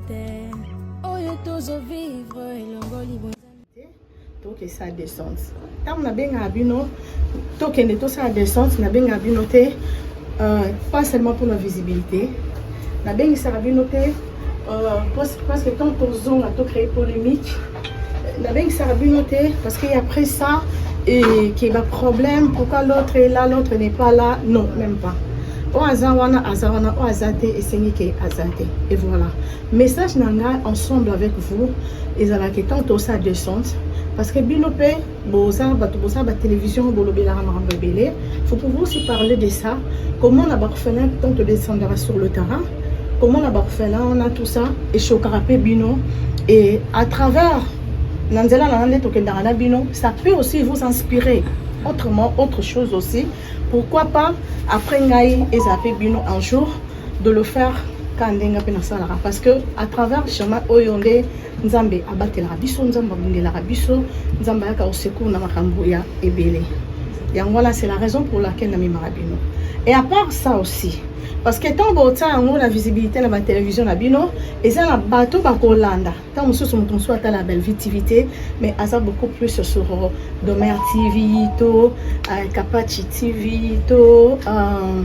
te oyo tozo vivre elongoli bonzambe te tokesa descente ntango nabengaka bino tokende tosala descente nabengaka bino te euh, pas seulement mpona visibilité nabengisaka bino te euh, parce que ntango tozonga tocree polémique nabengisaka bino te parce que après ça et que ba problème pourquoi l'autre est là l'autre n'est pas là non même pas oyo aza wana aza wana oyo aza te esengi ke aza te et voilà message na ngai ensemble avec vous ezalaki tant osa descente parce que bino mpe boza bato boza ba télévision bolobelaka makambo ebele faut pouvoir aussi parler de ça comment na baorphelin tant todescendaka sur le terrain comment na baorphelin wana tout ça echokaka mpe bino et à travers na nzela na nde tokendaka na bino ça peut aussi vous inspirer autrement autre chose aussi pourquoi pas après ngai eza mpe bino un jour de le faire ka ndenge mpe nasalaka parce que à travers chemin oyo nde nzambe abatelaka biso nzambe abundelaka biso nzambe ayaka osecour na makambo ya ebele yango wana c'est la raison pour laquelle namemaka bino et à part ça aussi parce que ntango botia yango na visibilité na batelevizio na bino eza na bato bakolanda ntango mosusu moto mosusu atala bellevie tv te mais aza beaucoup plus sur domer tv to uh, kapachi tv to uh,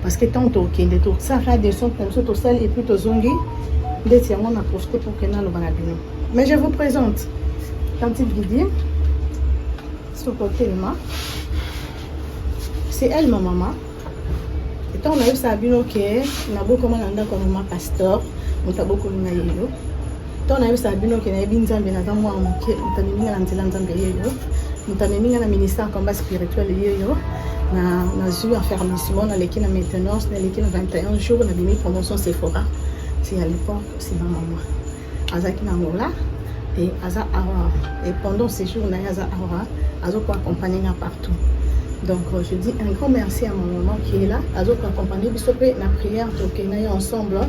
parce que ntango tokende tosaka descente na biso tosali epuis tozongi ndeti yango na profite pour ke naloba na bino mais je vous présente tantine didi soko telema c'est elle ma maman ntango nayebisaka bino ke nabokoma na ndako ya mama pasteur moto abokomi na yelo ntango nayebisaka bino ke nayebi nzambe naza mwana moke moto amemi nga na nzela nzambe yeyo moto amemi nga na ministère ya combat spirituel yeyo nazwi enfermissement naleki na maintenance naleki na 21 jours nabimi promotion sephora ti ya l'époque nsima mama azalaki na angola e aza awa e pendant séjour na ye aza awa azokoa accompagne nga partout donc euh, je dis un grand merci à mon maman qui est là azokoa accompagne biso mpe na prière tokei na ye ensemble hein.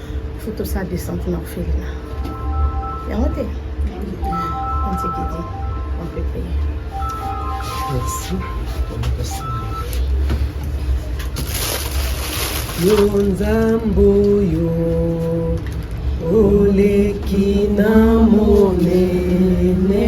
faut tosala descente na orphelina yango te antikidi on peut payer merci yo nzambe oyo oleki na monene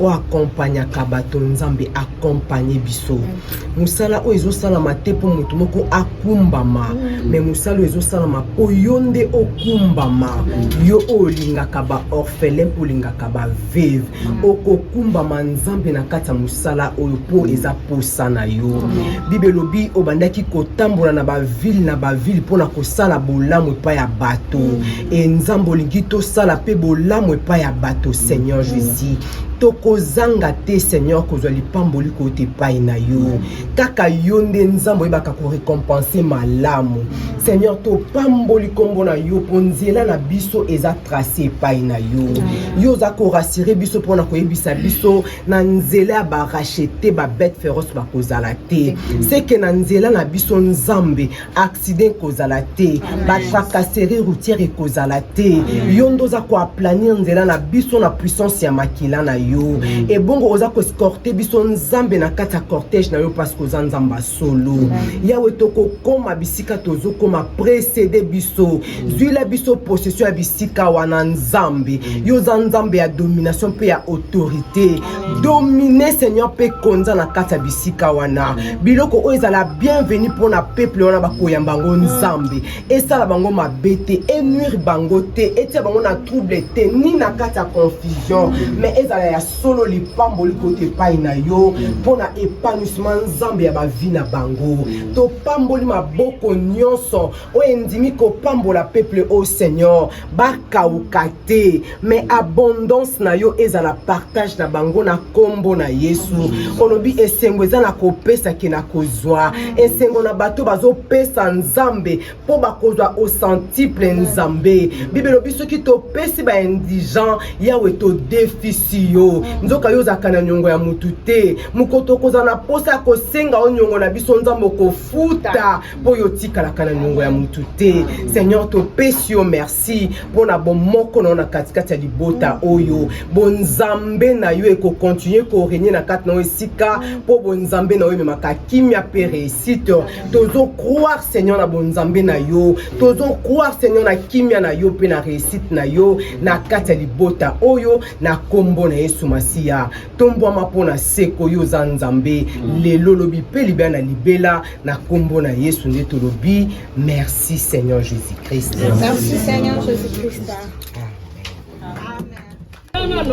o accompagnaka bato nzambe accompagne biso mm. mosala oyo ezosalama te mpo moto moko akumbama mm. me mosala oyo ezosalama mpo yo nde okumbama mm. yo oyo olingaka baorphelin mpo olingaka baveve okokumbama nzambe na kati ya mosala oyo mpo eza posa na yo bible elobi obandaki kotambola na bavile na bavile mpo na kosala bolamu epai ya bato e nzambe olingi tosala mpe bolamu epai ya bato seigneur jésus tokozanga te seigneur kozwa lipamboli kouta epai na yo kaka yo nde nzambe oyebaka korekompense malamu seigneur topamboli nkombo na yo mpo nzela na biso eza trace epai na yo yo oza korasire biso mpo na koyebisa biso na nzela ya barachete babete feroce bakozala te seke na nzela na biso nzambe accident ekozala te batracasserie routière ekozala te yo nde oza koaplanir nzela na biso na puissance ya makila na yo ebongo oza koescorte biso nzambe na kati ya cortège na yo parceke oza nzambe ya solo yawe tokokoma bisika tozokoma précédé biso zwila biso possession ya bisika wana nzambe yo oza nzambe ya domination mpe ya autorité domine seigneur mpe konza na kati ya bisika wana biloko oyo ezala bienvenu mpo na peuple wana bakoyamba yango nzambe esala bango mabe te enuire bango te etia bango na trouble te ni na kati ya confusion mais ezala ya solo lipamboli koti epai na yo mpo na épanouissement nzambe ya bavi na bango topamboli maboko nyonso oyo endimi kopambola peuple oyo seigneur bakauka te mais abondance na yo ezala partage na bango na kombo na yesu olobi esengo eza na kopesa ke na kozwa esengo na bato bazopesa nzambe mpo bakozwa osentiple nzambe bible elobi soki topesi baindigent yawe todefisi yo nzoka yo ozalaka na niongo ya motu te mokoto okozala na mposa ya kosenga yo niongo na biso nzambe okofuta mpo yo otikalaka na niongo ya motu te seigneur topesi yo merci mpo na bomoko na yo na katikati ya libota oyo bonzambe na yo ekokontinue korenye na kati na yo esika mpo bonzambe na yo ememaka kimia mpe reusite tozo croire seigneur na bonzambe na yo tozo croire seigneur na kimia na yo mpe na reusite na yo na kati ya libota oyo na nkombo na yesu masiya tombwama mpo na seko yo oza nzambe mm. lelo lobi mpe libela na libela na nkombo na yesu nde tolobi merci seigneur jésus christ merci seigneur jésus christ amen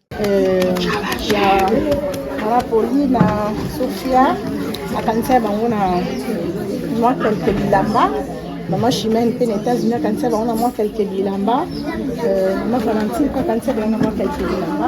eh, ya marapoli na sofia akanisa bango na mwa kelke bilamba mama chimene mpe na états-unis akanisa bango na mwa kelke bilamba eh, mama valentine mpe akanisa bango na mwa kelke bilamba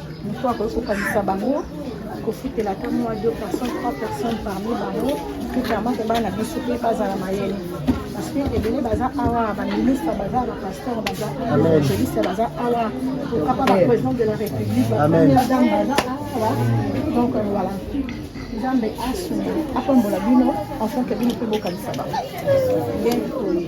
mpo akoki kokanisa bango kofutela ata mwa 2 personnes 3 personnes parmi bango mpe vraiment mpe bana biso mpe bazala mayele parceke ebele baza awa baministre baza bapasteur baza evangeliste baza awa okapa baprésident de la république bapremière dame baza awa donc euh, voilà nzambe asunga apambola bino enfonke bino mpe bokanisa bango nde toye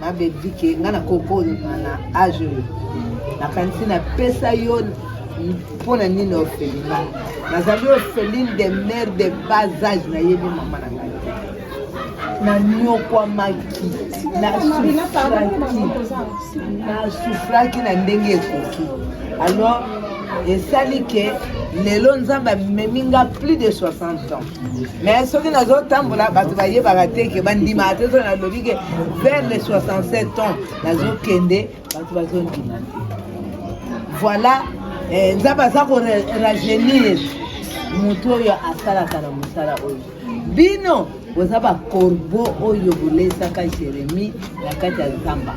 Ma Belgique, nga na koko na age oyo nakanisi napesa yo mpo na nini ofelima nazali ofeline de mare de bas age nayebi mama na ngai nanyokwamaki nasufraki na ndenge ekoki alors esali ke lelo nzambe amemi nga plus de 60 ans mais soki nazotambola bato bayebaka te ke bandimaka te soki nalobi ke vers le 67 ans nazokende bato bazondima te voilà eh, nzambe aza korajeunir motu oyo asalaka na mosala oyo bino boza bakorbo oyo bolesaka jeremi na kati ya zamba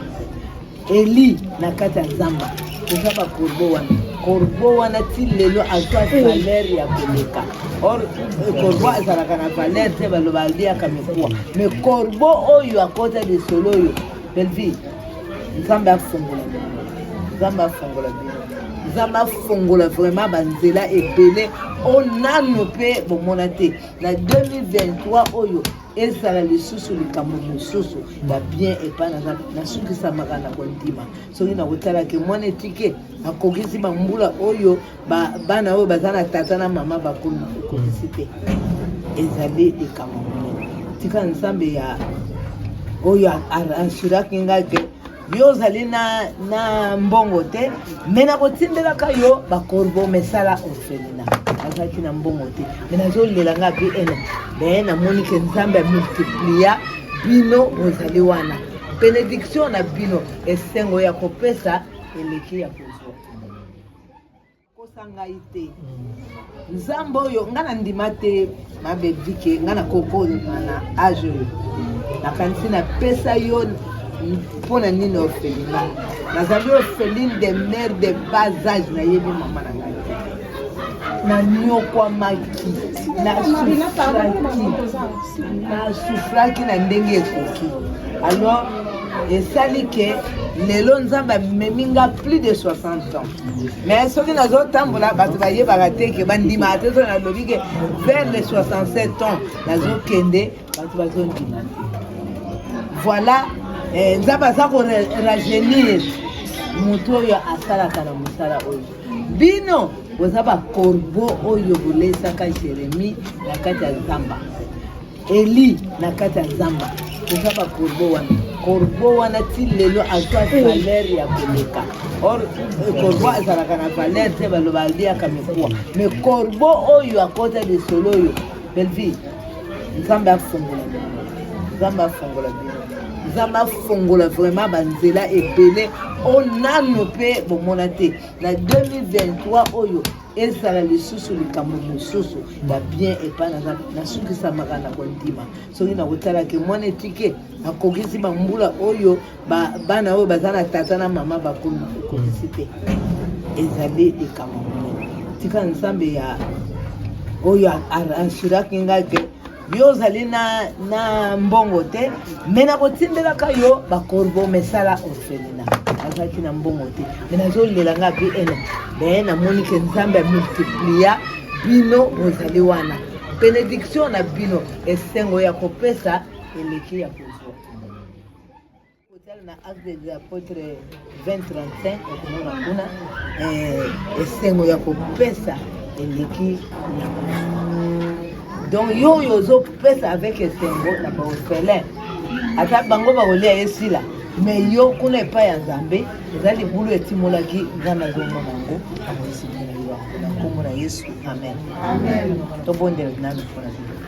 Eli na kati ya zamba eza ba corbeau wana corbeau wana ti lelo azwa valeur ya koleka or corbeau azalaka na valeur te baloba aliaka mikuwa me corbeau oyo akota lisolo oyo belvie nzambe afongola bino nzambe afongola bino nzambe afongola vraiment banzela ebele oyo nanu mpe bomona te na 2023 oyo ezala lisusu likambo mosusu ya bien epai naza nasukisamaka na kondima soki nakotalaki mwana etike akokisi bambula oyo bana oyo baza na tata na mama bakomi kokokisi te ezali likambo monene tika nzambe ya oyo arransuraki ngai ke yo ozali na, na mbongo te me nakotindelaka yo bakorbo mesala orphelina azalaki na mbongo te me nazolela nga mpe ena me namoni ke nzambe amultiplia bino bozali wana benediktio na bino esengo ya kopesa eleki ya kozwa kosa ngai te nzambe oyo ngai nandima te mabedike ngai nakokolima na age oyo nakanisi napesa yo mpo na nini ofelina nazali ofeline de mare de bas age nayebi mama na ngai te nanyokwamaki nasufraki na ndenge ekoki alors esali ke lelo nzambe amemi nga plus de 60 ans mais soki nazotambola bato bayebaka te ke bandimaka te soki nalobi ke vers le 67 ans nazokende bato bazondima te voilà eh, nzambe aza korajeunir moto oyo asalaka na mosala oyo bino boza bakorbo oyo bolesaka jeremi na kati ya zamba Eli na kati ya zamba eza ba corbeau wana corbeau wana ti lelo azwa valeur ya koleka or corbeau azalaka na valeur te baloba aliaka mikuwa me corbeau oyo akota lisolo oyo belvie nzambe afongola bino nzambe afongola bino nzambe afongola vraiment banzela ebele oyo nano mpe bomona te na 2023 oyo ezala lisusu likambo mosusu ya bien epai naza nasukisamaka na kondima soki nakotalaki mwana etike akokisi bambula oyo bana oyo baza na tata na mama bakomi ekokisi te ezali likambo monene tika nzambe ya oyo arashiraki ngai ke yo ozali na, na mbongo te me nakotindelaka yo bakorbo mesala orphelina azalaki na mbongo te me nazolela nga mpe ena me namoni ke nzambe amultiplia bino bozali wana benediktio na bino esengo ya kopesa eleki ya kozwa Kozala na Avenue des Apotres 2035 okomona kuna eh, esengo ya kopesa eleki donc yo oyo ozopesa avec esengo na baofelin ata bango bakolia ye sila me yo kuna epai ya nzambe eza libulu etimolaki nga nazomona yango amoisimona yo na nkombo na yesu amen tobondela nanu mpona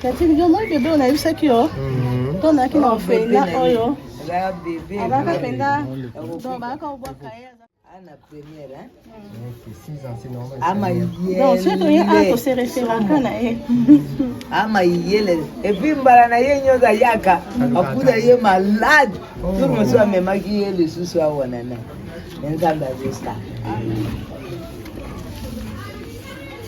Catherine, yo moi bebe oyo nayebisaki yo mhm. to nayaki na ofela oyo abaka mpenza donc bayaka kobwaka ye ana première akosereferaka na ye ama iyele epuis mbala na ye nyonso ayaka akuta ye malade tour mosusu amemaki ye lisusu awana na nzambe azosala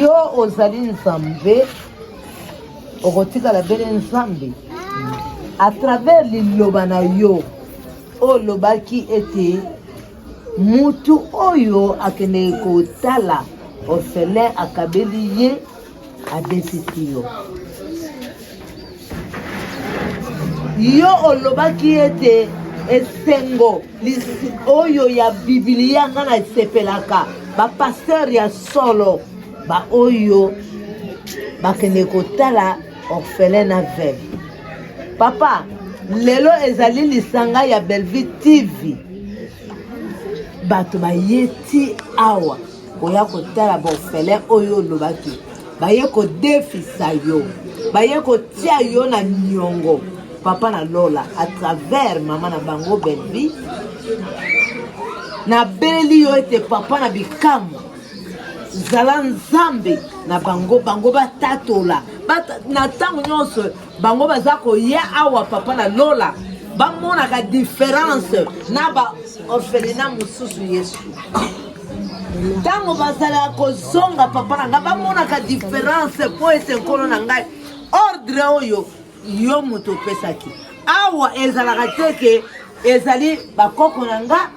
Yo ozali Nzambe, okotikala bele Nzambe à travers liloba na yo olobaki ete mutu oyo akendeki kotala orphelin akabeli ye abetisi yo yo olobaki ete esengo oyo ya bibilia nga na esepelaka bapasteur ya solo baoyo bakende kotala orphelin na veve papa lelo ezali lisanga ya bellevue tv bato baye ti awa oya kotala baorphelin oyo olobaki baye kodefisa yo baye kotia yo na niongo papa na lola à travers mama na bango belvi nabeleli yo ete papa na bikamwa zala nzambe na bango bango batatola na ntango nyonso bango baza koya awa papa na lola bamonaka diference na ba orphelina mosusu yesu ntango bazalaka kozonga papa na ngai bamonaka diference mpo ete nkolo na ngai ordre oyo yo moto opesaki awa ezalaka te ke ezali bakoko na ngai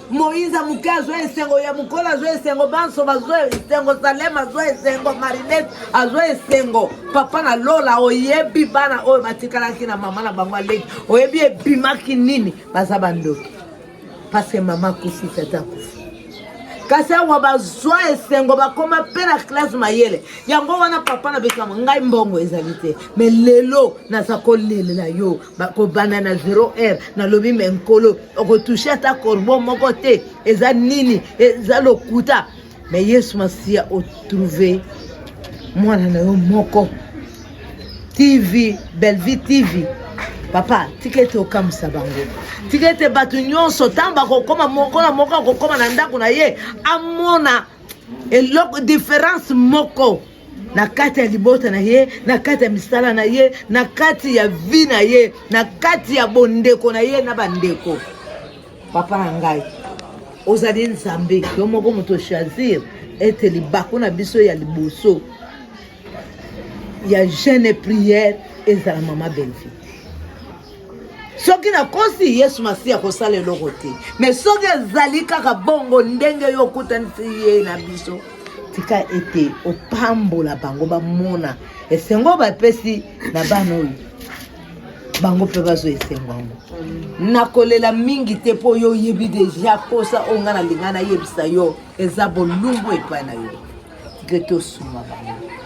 moïse moke azwa esengo ya mokolo azwa esengo banso bazwa esengo salem azwa esengo marinet azwa esengo papa na lola oyebi bana oyo batikalaki na mama na bango aleki oyebi ebimaki nini baza bandoki parceke mama akufi tata akufi kasi awa bazwa esengo bakoma mpe na klase mayele yango wana papa na biso yango ngai mbongo ezali te me lelo naza kolelela yo bakobanda na 0 heure nalobi me nkolo okotushe ata corbo moko te eza nini eza lokuta me yesu masiya otrouve mwana na yo moko tv bellevie tv papa tika ete okamwisa bango tika ete bato nyonso ntango bakokoma moko na moko akokoma na ndako na ye amona eloko diference moko na kati ya libota na ye na kati ya misala na ye na kati ya vi na ye na kati ya bondeko na ye na bandeko papa na ngai ozali nzambe yo moko moto choisir ete libaku na biso ya liboso ya jeune prière ezala mama belvi soki nakosi yesu masiya kosala eloko te me soki ezali kaka bongo ndenge yo okutanisi ye na biso tika ete opambola bango bamona esengo bapesi na bana oyo bango mpe bazwa esengo yango nakolela mingi te mpo yo oyebi deja mposa oyo ngai nalinga nayebisa yo eza bolumbu epai na yo tika ete osuma bango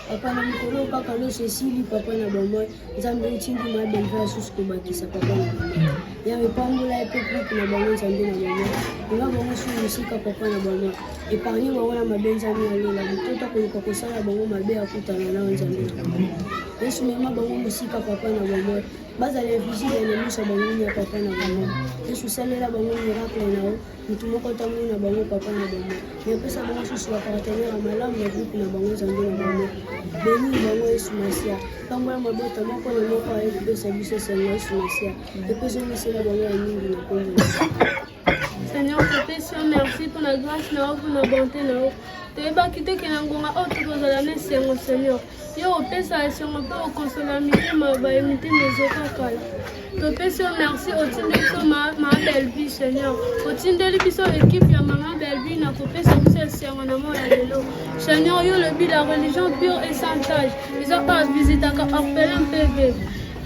Papa na mikolo kaka loso esili papa na bamoi nzambe otindi ma belva lisusu kobakisa papa na bamoi yawe pambola ye mpe kuku na bango nzambe na bamoi ema bango su mosika papa na bamoi epargne bango na mabe nzambe ya lola motota koluka kosala bango mabe akutana nao nzambe na bamoi yesu mema bango mosika papa na bamoi bazala invisible na miso ya bango ya papa na bamoi yesu salela bango miracle na yo moto moko atamboli na bango papa na bango me apesa bango susu bapartenere ya malamu ya grupe na bango nzambe na bango beni bango yesu masia ntango ya mabota moko na moko aye kopesa biso esengo yesu masia epezomisela bango ya mingi na kombo Seigneur, je te suis merci pour la grâce, na bonté, na toyebaki te ke na ngonga oyo tokozala na esengo seigneur Yo opesa esengo mpe okosola mitema baye mitema ezokakala. Topesi yo merci otindeli biso mama Bellevue Seigneur, otindeli biso ekipe ya mama Bellevue na kopesa biso esengo na moi ya lelo. Seigneur, yo lobi la religion pure et sans tache eza mpe avisitaka orphelin mpe veve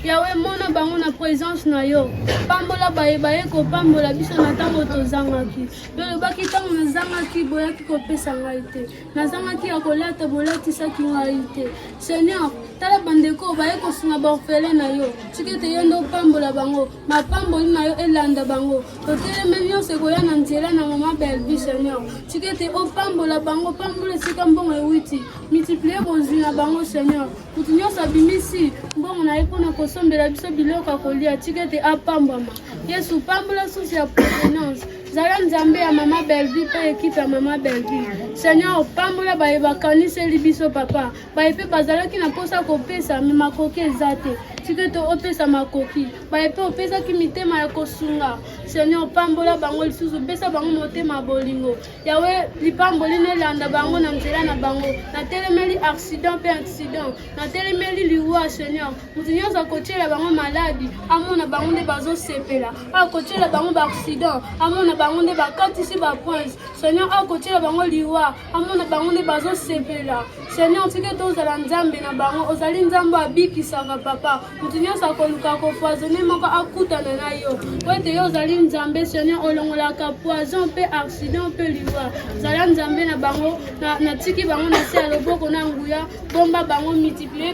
yawe mona bango na presence na yo pambola baye baye kopambola biso na ntango tozangaki yo olobaki ntango nazangaki boyaki kopesa ngai te nazangaki ya kolata bolatisaki ngai te seigneur tala bandeko baye kosunga baorfele na yo soki ete yo nde opambola bango mapamboli na yo elanda bango toteleme nyonso ekoya na nzela na mama belvi seigneur soki ete opambola bango pambola esika mbongo ewiti multiplie bozwi na bango seigneur moto nyonso abimisi mbongo na ye mpo na kosombela biso biloko ya kolia soki ete apambwama yesu pambola susi ya provenance zala nzambe ya mama bellevue mpe ekipe ya mama bellevue seigneur opambola baye bakaniseli biso papa baye mpe bazalaki na mposa kopesa me makoki eza te tika ete opesa makoki baye mpe opesaki mitema ya kosunga seigneur opambola bango lisusu opesa bango motema bolingo yawe lipamboli nelanda bango na nzela na bango natelemeli accident mpe accident natelemeli liwa seigneur moto nyonso akotyela bango maladi amona bango nde bazosepela akotyela bango baaccident amona bango nde bakatisi bapoince seigneur akotyela bango liwa amona bango nde bazosepela seigneur tika ete ozala nzambe na bango ozali nzambe oyo abikisaka papa moto nyonso akoluka kofoisone moko akutana na yo po ete yo ozali nzambe seigneur olongolaka poison mpe accident mpe liwa zala nzambe na bango natiki bango na se ya loboko na nguya bomba bango multiplier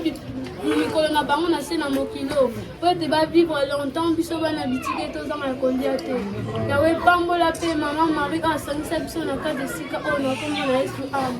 mikolo na bango na se na mokili oyo mpo ete bavivre longtemps biso bana bitike tozanga ya kolia te yawe epambola mpe mama marie oyo asangisa biso na kati esika oyo na kombo na yesu ame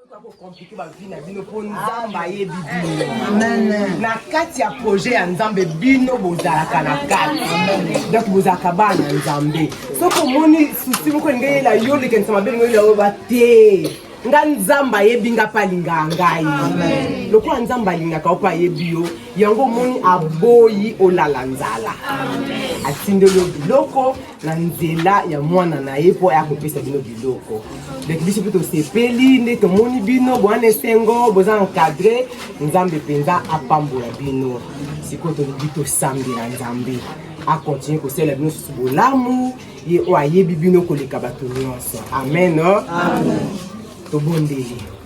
kokomplike bavi na bino mpo nzambe ayebi bino na kati ya projet ya nzambe bino bozalaka na kati donc bozalaka bana ya nzambe soki omoni susi moko elingi eyela yo likanisa mabe lingo eyela oyoba te nga nzambe ayebi nga mpe alingaka ngai lokola nzambe alingaka yo mpe ayebi yo yango omoni aboyi olala nzala atindeli yo biloko na nzela ya mwana na ye mpo aya kopesa bino biloko donc biso mpe tosepeli nde tomoni bino bwana esengo boza encadre nzambe mpenza apambola bino sikoyo tolingi tosambela nzambe akontinue kosalela bino susu bolamu ye oyo ayebi bino koleka bato nyonso amen tobondeli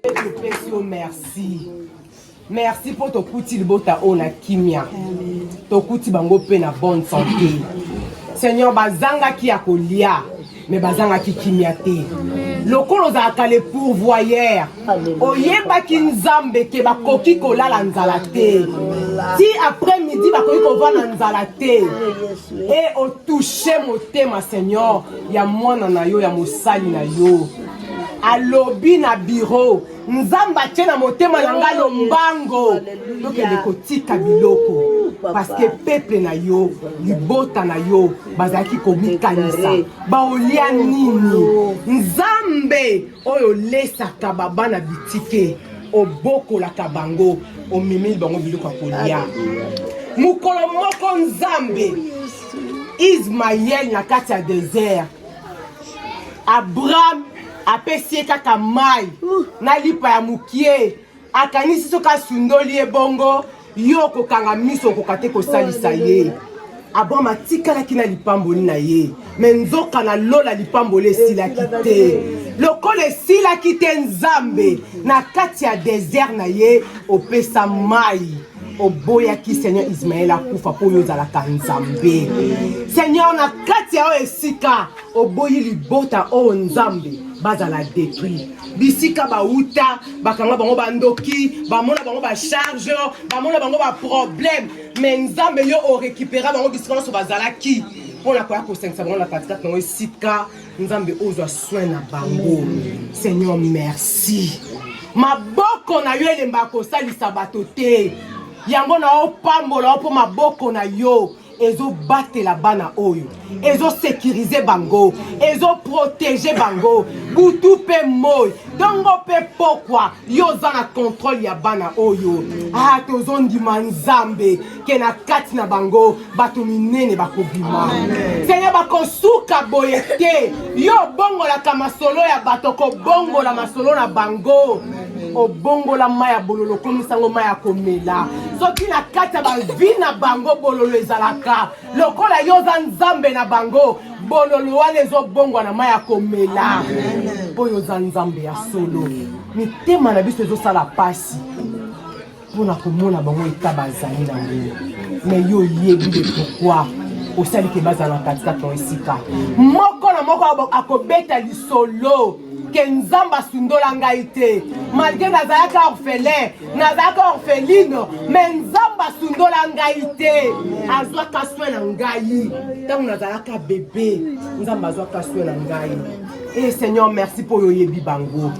topesi yo merci merci mpo tokuti libota oyo na kimia tokuti bango mpe na bonne santé seigneur bazangaki ya kolia me bazangaki kimia te lokola ozalaka le pourvoyeur oyebaki nzambe ke bakoki kolala nzala te ti après midi bakoki kova na nzala te e otouche motema seigneur ya mwana na yo ya mosali na yo alobi na biro nzambe atye na motema na ngai lombango tokende kotika biloko parceke peple na yo libota na yo bazalaki komikanisa baolia nini nzambe oyo olesaka babana bitike obokolaka bango omemeli bango biloko ya kolia mokolo moko nzambe ismael na kati ya desert abraham apesi ye kaka mai na lipa ya mokie akanisi soki asundoli ye bongo yo okokanga miso okoka te kosalisa ye abraham atikalaki na lipamboli na ye me nzoka na lola lipamboli esilaki te lokola esilaki te nzambe na kati ya desert na ye opesa mai oboyaki seigneur ismael akufa mpo oyo ozalaka nzambe seigneur na kati ya oyo esika oboyi libota oyo nzambe bazala detruit bisika bauta bakanga bango bandoki bamona bango bacharge bamona bango baproblème mais nzambe yo orekipera bango bisika nyonso bazalaki mpo na koya kosangisa bango na katikati nango esika nzambe ozwa soin na bango seigneur merci maboko na yo elemba kosalisa bato te yango na opambola yo mpo maboko na yo ezobatela bana oyo ezosekirize bango ezoprotege bango butu mpe moi ntongo mpe pokwa yo oza na kontrole ya bana oyo ah tozondima nzambe ke na kati na bango bato minene bakobima seigneur bakosuka boye te yo obongolaka masolo ya bato kobongola masolo na bango obongola mai ya bololo okomisa yango mai ya komela soki na kati ya bavi na bango bololo ezalaka lokola yo oza nzambe na bango bololo wana ezobongwa na mai ya komela oyo oza nzambe ya solo mitema na biso ezosala mpasi mpo na komona bango eta bazali na mbele me yo oyebi de pourkoi osali ke bazala na katikati na esika moko na moko akobeta lisolo ke nzambe asundola ngai te malgre nazalaka orphelin nazalaka orpheline me nzambe asundola ngai te azwaka soin na ngai ntango nazalaka bebe nzambe azwaka soin na ngai Hey eh, Seigneur, merci pour yo yebi bango.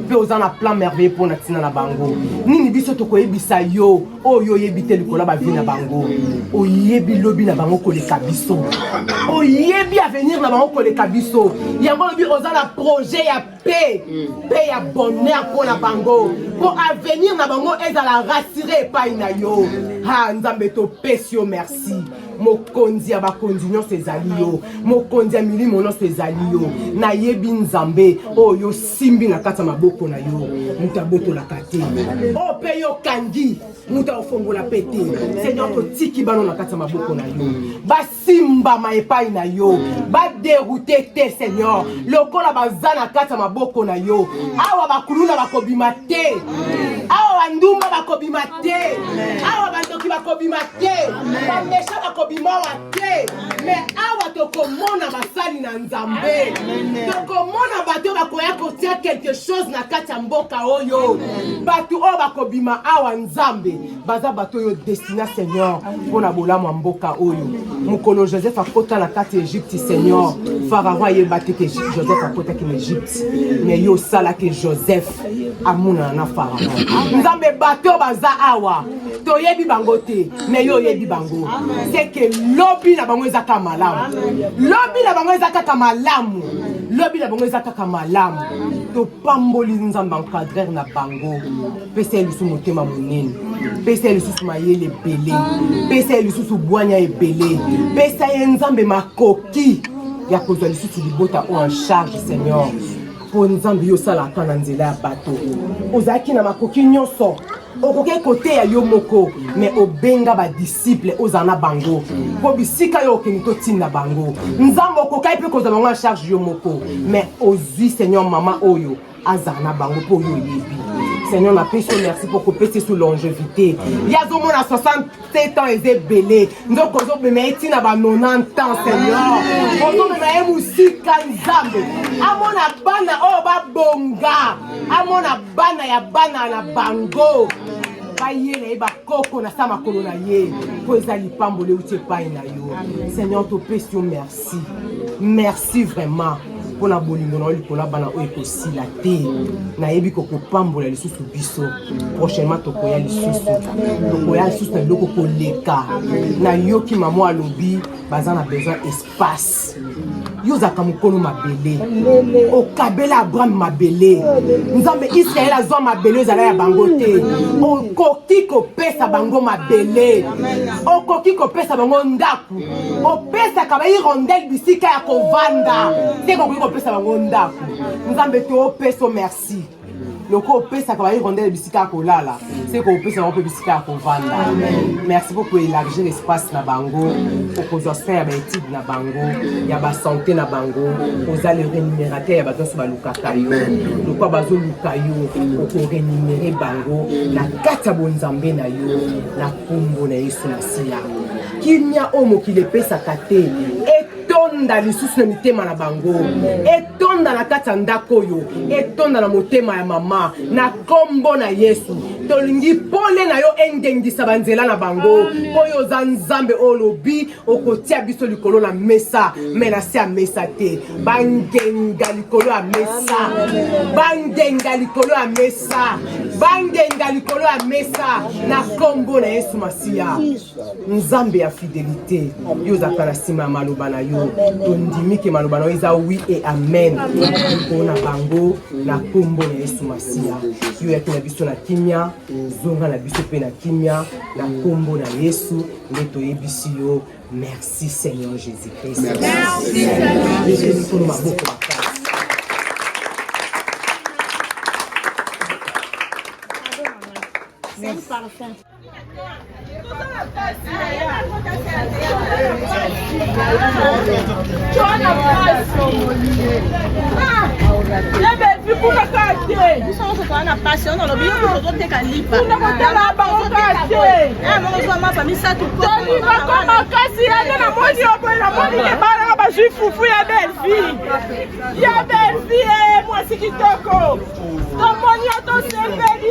Pe oza na plan merveilleux pour na tina na bango. Nini biso toko yebisa yo, oh yo yebi te likola ba vie na bango. O yebi lobi na bango koleka biso. O yebi avenir na bango koleka biso. Yango lobi oza na projet ya paix, paix ya bonheur pour na bango. Pour avenir na bango ezala rassuré epai na yo. Ha, Nzambe to pesi yo merci. mokonzi ya bakonzi nyonso ezali yo mokonzi ya milimo nyonso ezali yo nayebi nzambe oyo osimbi na kati ya maboko na yo moto abotolaka te oyo mpe yo okangi moto akofongola mpe te seigneur totiki bano na kati ya maboko na yo basimbama epai na yo baderoute te seigneur lokola baza na kati ya maboko na yo awa bakuluna bakobima te awa bandumba bakobima te awa bakoki bakobima te bamesha bakobima awa te me awa tokomona basali na nzambe tokomona bato bakoya kotia quelque chose na kati ya mboka oyo bato oyo bakobima awa nzambe baza bato oyo destina seigneur mpo na bolamu ya mboka oyo mokolo joseph akota na kati ya egypte seigneur farao ayeba te ke joseph akotaki na egypte me yo osalaki joseph amonana na farao nzambe bato baza awa toyebi bango te me yo oyebi bango seke lobi na bango eza kaka malamu lobi na bango eza kaka malamu lobi na bango eza kaka malamu topamboli nzambe encadrer na bango pesa ye lisusu motema monene pesa ye lisusu mayele ebele pesa ye lisusu bwanya ebele pesa ye nzambe makoki ya kozwa lisusu libota oyo en charge seigneur mpo nzambe yo osalaka na nzela ya bato ozalaki na makoki nyonso okoki koteya yo moko me obenga badisiple ozala na bango mpo bisika yo okende totinda bango nzambe okokaki mpe kozwa bango na charge yo moko me ozwi seigneur mama oyo azala na bango mpo oyo oyebi seigneur napesi yo merci mpo kopesi su longevité ye azomona 60 7 ans eza ebele nzoka ozobema ye ntina ba 90 ans seigneur ozobema ye mosika nzambe amona bana oyo babonga amona bana ya bana na bango baye na ye bakoko na sa makolo na ye mpo eza lipamboli euti epai na yo seigneur topesi yo merci merci vraiment mpo na bolingo na yo likolo ya bana oyo ekosila te nayebi kokopambola lisusu biso prochainement tokoya lisusu tokoya lisusu na biloko koleka nayoki mama alobi baza na besoin espace yo ozalaka mokolo mabele okabela abraham mabele nzambe israele azwa mabele ezala ya bango te okoki kopesa bango mabele okoki kopesa bango ndako opesaka ba irondel bisika ya kovanda te kokoki kopesa bango ndako nzambe topeso merci loko opesaka ba irondel bisika ya kolala se kopesa bango mpe bisika ya kovanda merci beaucoup élargir espace na bango okozwa soin ya baétude na bango ya basanté na bango oza le rémunérateur ya bato nyonso balukaka yo lokwa bazoluka yo okorémunere bango na kati ya bonzambe na yo na nkombo na yesu masiya kimia oyo mokili epesaka te etonda lisusu na mitema na bango etonda na kati ya ndako oyo etonda na motema ya mama na nkombo na yesu tolingi pole na yo engengisa banzela na bango oyo oza nzambe oyo olobi okotia biso likolo na mesa me na se ya mesa te bangenga likolo ya mesa bangenga likolo ya mesa bangenga likolo ya mesa na nkombo na yesu masiya nzambe ya fidelité yo ozalaka na nsima ya maloba na yo tondimi ke maloba na yo eza wi e amen likolo na bango na nkombo na yesu masiya yo yaki na biso na kimia zonga na biso mpe na kimia na nkombo na yesu nde toyebisi yo merci seigneur jésus christ maboko makasi makasi yande na moni oboye na moni ebalaka bazwi fufu ya belvie ya belvie mwasi kitoko tomoni yo tosepeli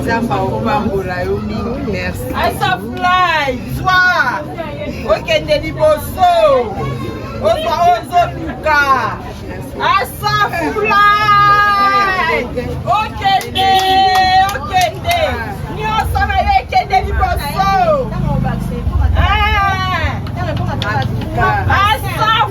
nzambe akopambola yo mingi merci asafly zwa okende liboso ozwa ozoluka asafly okende okende nyonso na yo ekende liboso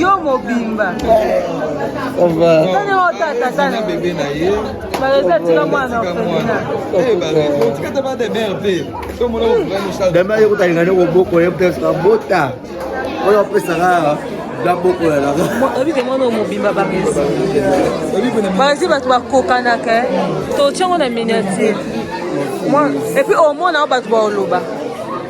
yo mobimba bebe na ye dama ye kotalingani koboko ye peut-être abota oyo apesaka oyebike mwana mobimba bapesi bazi bato bakokanaka eh. totyango na miniature epuis omona o bato baoloba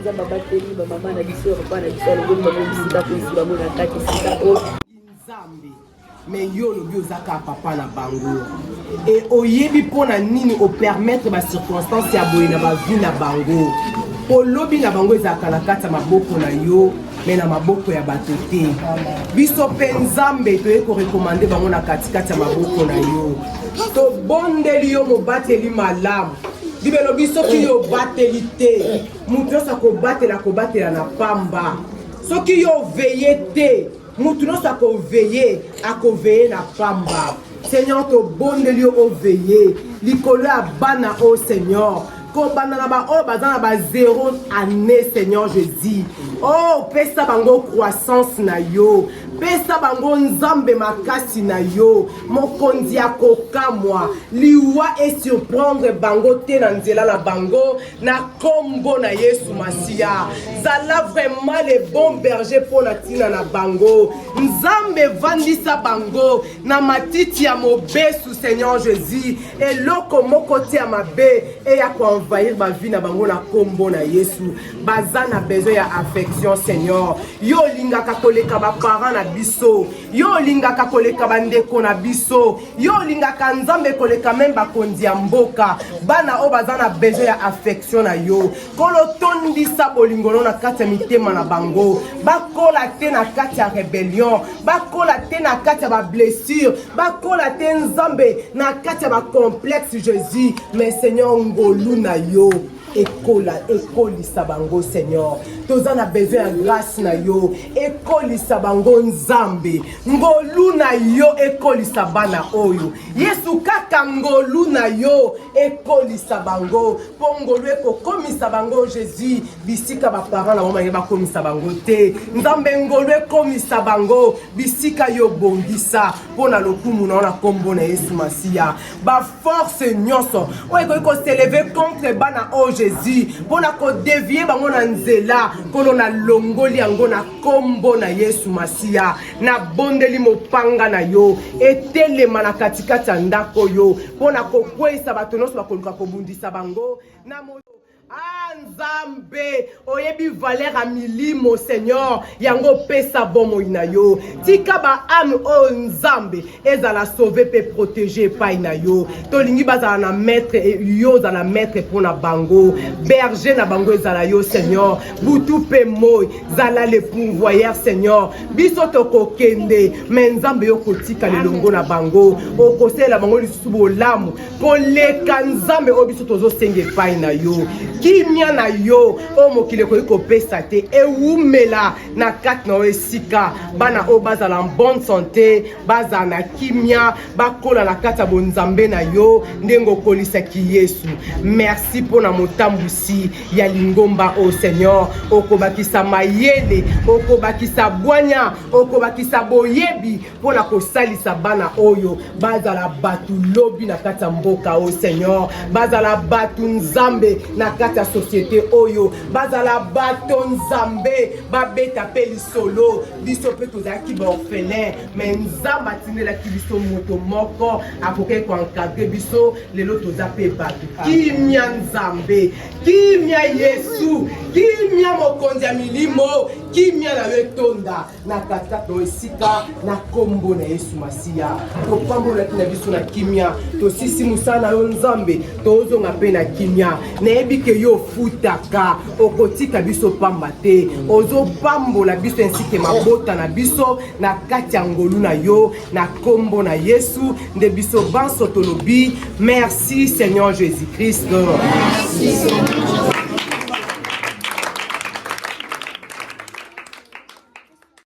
nzambe abateli bamama na biso ya papa na biso alobeli bango bisika mpo esi bango na kati esika oyo nzambe me yo olobi oza kaka papa na bango e oyebi mpo na nini opermettre bacirconstance ya boye na bavi na bango mpo lobi na bango ezalaka na kati ya maboko na yo me na maboko ya bato te biso mpe nzambe toyei korekomande bango na katikati ya maboko na yo tobondeli yo mobateli malamu bibele lobi soki yo obateli te moto nyonso akobatela akobatela na pamba soki yo oveye te moto nyonso akoveye akoveye na pamba seigneur tobondeli yo oveye likolo ya bana oyo seigneur kobanda na baoyo baza na ba zero année seigneur je dis oh pesa bango croissance na yo pesa bango nzambe makasi na yo mokonzi ya kokamwa liwa esurprendre bango te na nzela na bango na kombo na yesu masiya zala vraiment le bon berger mpo na ntina na bango nzambe vandisa bango na matiti ya mobesu seigneur jésus eloko moko te ya mabe eya koenvahir bavi na bango na nkombo na yesu baza na besoin ya affection seigneur yo olingaka koleka baparent na biso yo olingaka koleka bandeko na biso yo olingaka nzambe koleka meme bakonzi ya mboka bana oyo baza na besoin ya affection na yo kolo tondisa bolingo no na kati ya mitema na bango bakola te na kati ya rebellion bakola te na kati ya bablessure bakola te nzambe na kati ya bacomplexe jésus mais seigneur ngolu na yo ekola ekolisa bango seigneur toza na besoin ya grâce na yo ekolisa bango nzambe ngolu na yo ekolisa bana oyo yesu kaka ngolu na yo ekolisa bango mpo ngolu ekokomisa bango jésus bisika baparent na bango balingi bakomisa bango te nzambe ngolu ekomisa bango bisika yo bongisa mpo na lokumu na yo na nkombo na yesu masiya baforce nyonso oyo ekoki koseleve contre bana oyo jésus mpo na kodevie bango na nzela nkolo na longoli yango na nkombo na yesu masiya nabondeli mopanga na yo etelema na katikati ya ndako oyo mpo na kokweisa bato nyonso bakoluka kobundisa bango na Ah Nzambe, oyebi valeur ya milimo Seigneur, yango opesa bomoi na yo. Tika ba âme oyo Nzambe ezala sauver pe protéger epai na yo. Tolingi bazala na maître et yo ozala maître mpo na bango. Berger na bango ezala yo Seigneur. Butu pe moi, zala le pourvoyeur Seigneur. Biso tokokende, mais Nzambe yo kotika lelongo na bango. Okosela bango lisusu bolamu. koleka nzambe oyo biso tozosenga epai na yo kimia na yo oyo mokili ekoki kopesa te ewumela na kati na yo esika bana oyo bazala bonne sante bazala na kimia bakola na kati ya bonzambe na yo ndenge okolisaki yesu merci mpo na motambwisi ya lingomba o seigneur okobakisa mayele okobakisa bwanya okobakisa boyebi mpo na kosalisa bana oyo bazala bato lobi na kati ya mboka oyo seigneur bazala bato nzambe na kati ya societe oyo bazala bato nzambe babeta mpe lisolo biso mpe tozalaki baorphelin me nzambe atindelaki biso moto moko akokaki koencadre biso lelo toza mpe bato kimya nzambe kimya yesu kimya mokonzi ya milimo kimya na yo etonda na kata to esika na nkombo na yesu masiya topambolaki na biso na kimia tosisi mosala na yo nzambe tozonga mpe na kimia nayebi ke yo ofutaka okotika biso pamba te ozopambola biso ensike mabota na biso na kati ya ngolu na yo na nkombo na yesu nde biso banso tolobi merci seigneur jésus christ merci,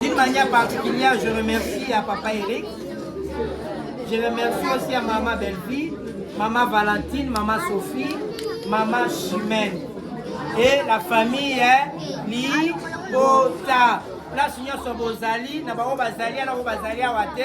D'une manière particulière, je remercie à Papa Eric. Je remercie aussi à Maman Bellevue, Maman Valentine, Maman Sophie, Maman Chimène et la famille hein, Libota. Place nyonso bozali na bango bazali na bango bazali awa te